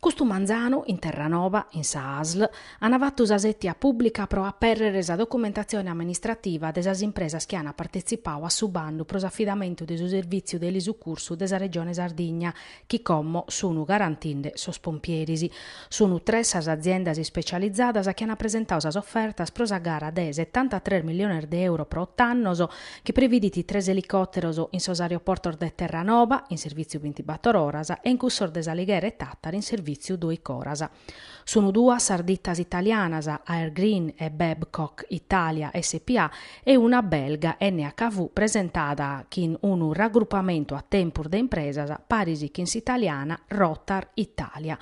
Custu manzanu, in Terranova, in sa Asl, an fatu sa sètia pùblica pro apèrrere sa documentatzione amministrativa de sas impresas chi an partetzipau a su bandu pro s'afidamentu de su servìtziu de elisucursu de sa Regione Sardigna chi como sun garantinde sos pompieris. Sun tres sas aziendas ispecializadas chi an presentau sas ofertas pro sa gara de setantatres milliones de euro pro ot'annos, chi previdit tres elicòteros in sos aeroportos de Terranova, in servìtziu bintibator oras, e in cussos de S'Alighera e Tàtari in servìtziu dòichi oras. Sun duas sas ditas italianas, Air Green e Babcock Italia SpA, e una belga, NHV, presentada chin unu ragrupamentu a tempus de impresas, paris chin s'italiana Rotar Italia,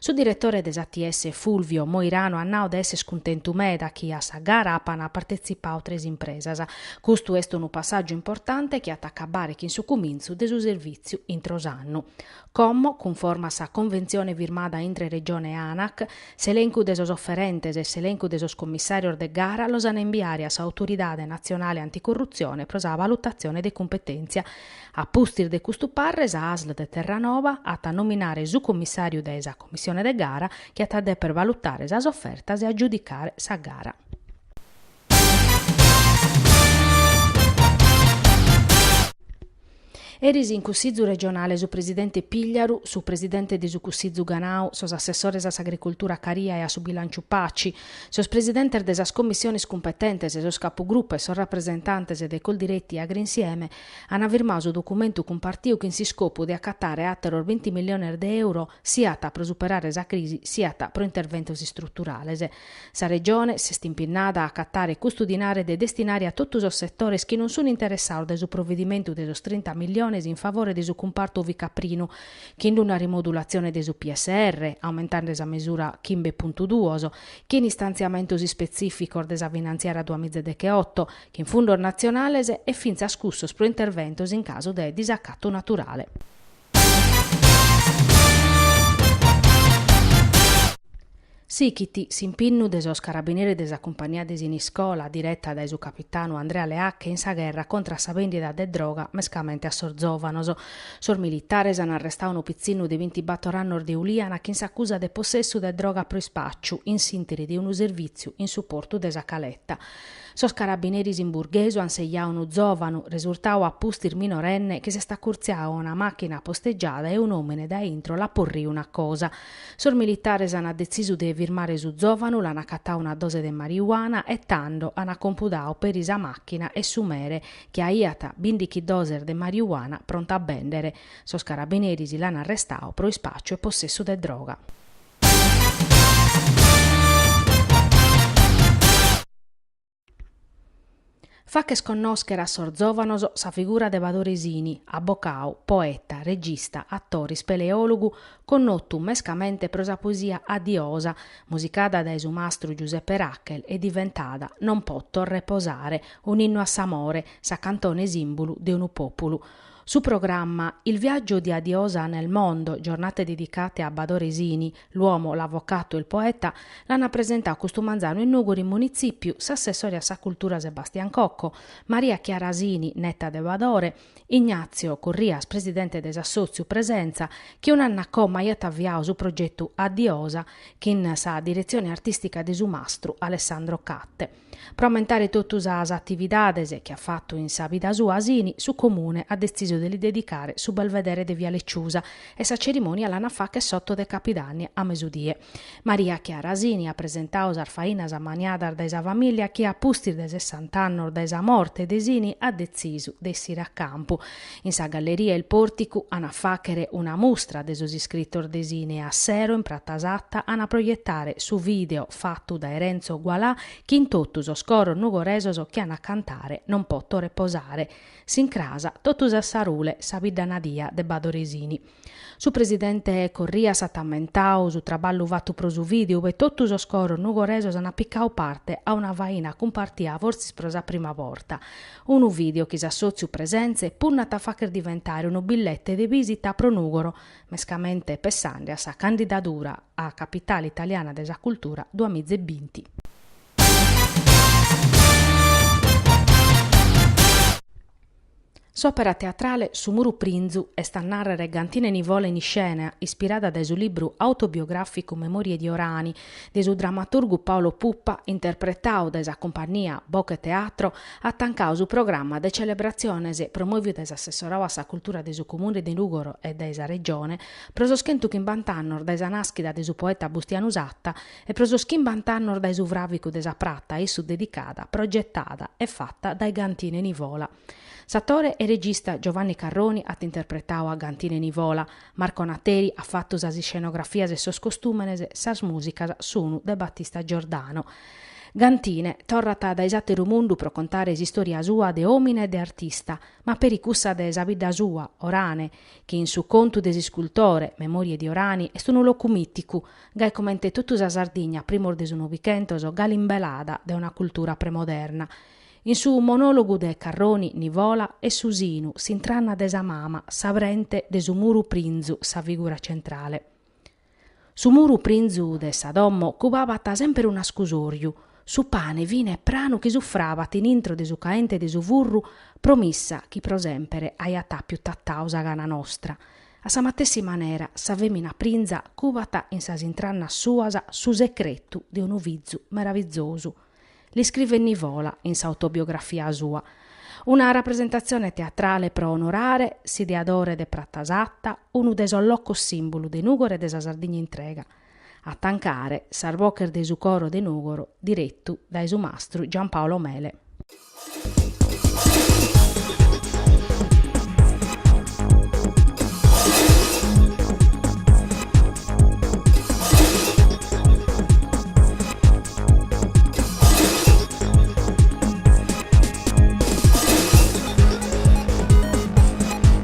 Su diretore de s'ATS Fulvio Moirano at nau de esser cuntentu meda chi a sa gara apan partetzipau tres impresas. Custu est unu passàgiu importante chi at a acabare chin su cumintzu de su servìtziu intro s'annu. Como cunforma a sa conventzione firmada intre Regione e Anac, s'elencu de sos oferentes e s'elencu de sos commissàrios de gara los an a imbiare a s'Autoridade natzionale anticorrutzione pro sa valutatzione de cumpetèntzia. A pustis de custu parre sa Asl de Terranova at a nominare su commissàriu de sa commissione de gara chi at a deper valutare sas ofertas e agiudicare sa gara. Eris in Cussizu regionale su presidente Pigliaru, su presidente de su Cussizu Ganau, sos assessores a s'agricultura Caria e a su bilànciu Paci, sos presidentes de sas commissiones cumpetentes, sos capugrupu e sos rapresentantes de Coldiretti e Agrinsieme, an firmau su documentu cumpartiu chin s'iscopu de acatare àteros binti milliones de euro siat pro superare sa crisi siat pro interventos istruturales. Sa Regione s'est impinnada a acatare custu dinare de destinare a totu sos setores chi non sun interessaos de su provedimentu de sos trinta milliones in favore de su cumpartu ovicaprinu chin una rimodulatzione de su PSR aumentande sa mesura chimbe puntu duos chin istantziamentos ispetzìficos de sa finantziaria duamiza decheoto chin fundos natzionales e fintzas cussos pro interventos in casu de disacatu naturale. Sichit s'impinnu de sos carabineris de sa cumpagnia de Siniscola, direta dae su capitanu Andrea Leacche, in sa gherra contra a sa bèndida de droga mescamente a sos zòvanos. Sos militares an arrestau unu pitzinnu de bintibator annos de Uliana chin s'acusa de possessu de droga pro ispàciu in s'interi de unu servìtziu in su portu de sa Caletta. Sos carabineris in Burghesu an segliadu unu zòvanu, resurtadu a pustis minorenne, chi s'est acurtziadu a una màchina apostegiada e un'òmine dae intro l'at porriu una cosa. Sos militares an detzisu de firmare su zòvanu, l'an acatadu una dose de mariuana e tando an acompudadu peri sa màchina e su mere, chi aiat bìndighi doses de mariuana pronta a bèndere. Sos carabineris l'an arrestadu pro ispàciu e possessu de droga. Fàcher connòschere a sos zòvanos sa figura de Badore Sini, abbocadu, poeta, regista, atore, ispeleòlogu, connotu mescamente pro sa poesia A Diosa, musicada dae su mastru Giuseppe Rachel e diventada Non poto reposare, un'innu a s'amore, sa cantone sìmbulu de unu pòpulu. Su programma Il viaggio di A Diosa nel mondo, giornate dedicate a Badore Sini, l'uomo, l'avvocato e il poeta, l'ana presentau custu manzanu in Nùgoro in Munitzipiu s'assessore a sa cultura Sebastian Cocco, Maria Chiara Sini, neta de Badore, Ignazio Corrias, presidente de s'assotziu Presenza, chi un'annu a como aiat avviau su progetu A Diosa, chin sa diretzione artistica de su mastru Alessandro Catte. Pro ammentare totu sas atividades chi at fatu in sa vida sua Sini, su Comune at detzisu de li dedicare su Belvedere de Viale Ciusa e sa cerimònia l'an a fàgher s'oto de Capidanni a mesudie. Maria Chiara Sini at presentadu sas fainas ammaniadas dae sa famìllia chi a pustis de sessant'annos dae sa morte de Sini at detzisu de essire a campu In sa galleria 'e Il Porticu an a fàghere una mustra de sos iscritos de Sini e a sero in Pratza Satta an a proietare su vìdeo fatu dae Renzo Gualà chin totu sos coros nugoresos chi an a cantare Non poto reposare. S'incràs totus a Sarule, sa bidda nadia de Badore Sini. Su presidente Corrias at ammentau su traballu fatu pro su vìdeu e totu sos coros nugoresos ant picau parte a una faina cumpartia fortzis pro sa prima borta, unu vìdeu chi s'assòtziu Presenze punnat a fàghere diventare unu billete de bìsita pro Nùgoro, mescamente pessande a sa candidadura a Capitale italiana de sa cultura duas miza e binti. S'òpera teatrale Su muru prinzu est a nàrrere Gantine Nivola in iscena, ispirada dae su libru autobiogràficu Memorie di Orani de su dramaturgu Paolo Puppa, interpretadu dae sa cumpannia Bocheteatro, at tancadu su programma de celebratziones promòvidu dae s'assessoradu a sa cultura de su Comune de Nùgoro e dae sa Regione pro sos chentu chimbant'annos dae sa nàschida de su poeta Bustianu Satta e pro sos chimbant'annos dae su fràvicu de sa Pratza a issu dedicada, progetada e fata dae Gantine Nivola. S'atore e regista Giovanni Carroni at interpretadu a Gantine Nivola, Marco Nateri at fatu sas iscenografias e sos costùmenes, sas mùsicas sunu de Battista Giordano. Gantine torrat dae s'àteru mundu pro contare s'istòria sua de òmine e de artista, ma peri cussa de sa bidda sua, Orane, chi in su contu de s'iscultore, Memorie di Orani, est unu locu mìticu, Gai comente totu sa Sardigna a primos de su Novichentos galu imbelada dae una cultura premoderna. In su monologu de Carroni, Nivola e su sinu, s'intranna de sa mama, s'aprente de su muru prinzu sa figura centrale. Su muru prinzu de sa domo cubabat semper un'ascusòriu, Su pane fine e pranu chi sufrabat in intro de su caente de su furru, promissa chi pro sèmpere aiat àpiu tatadu sa gana nostra. A sa matessi manera, sa fèmina prinza cubat in sas intrannas suas su secretu de unu fizu meravizosu. L'iscrivet Nivola in s'autobiografia sua. Una rapresentatzione teatrale pro onorare s'ideadore de Pratza Satta, unu de sos locos sìmbulu de Nùgoro e de sa Sardigna intrega. a tancare sas boches de su coro de Nùgoro direttu dae su mastru Giampaolo Mele.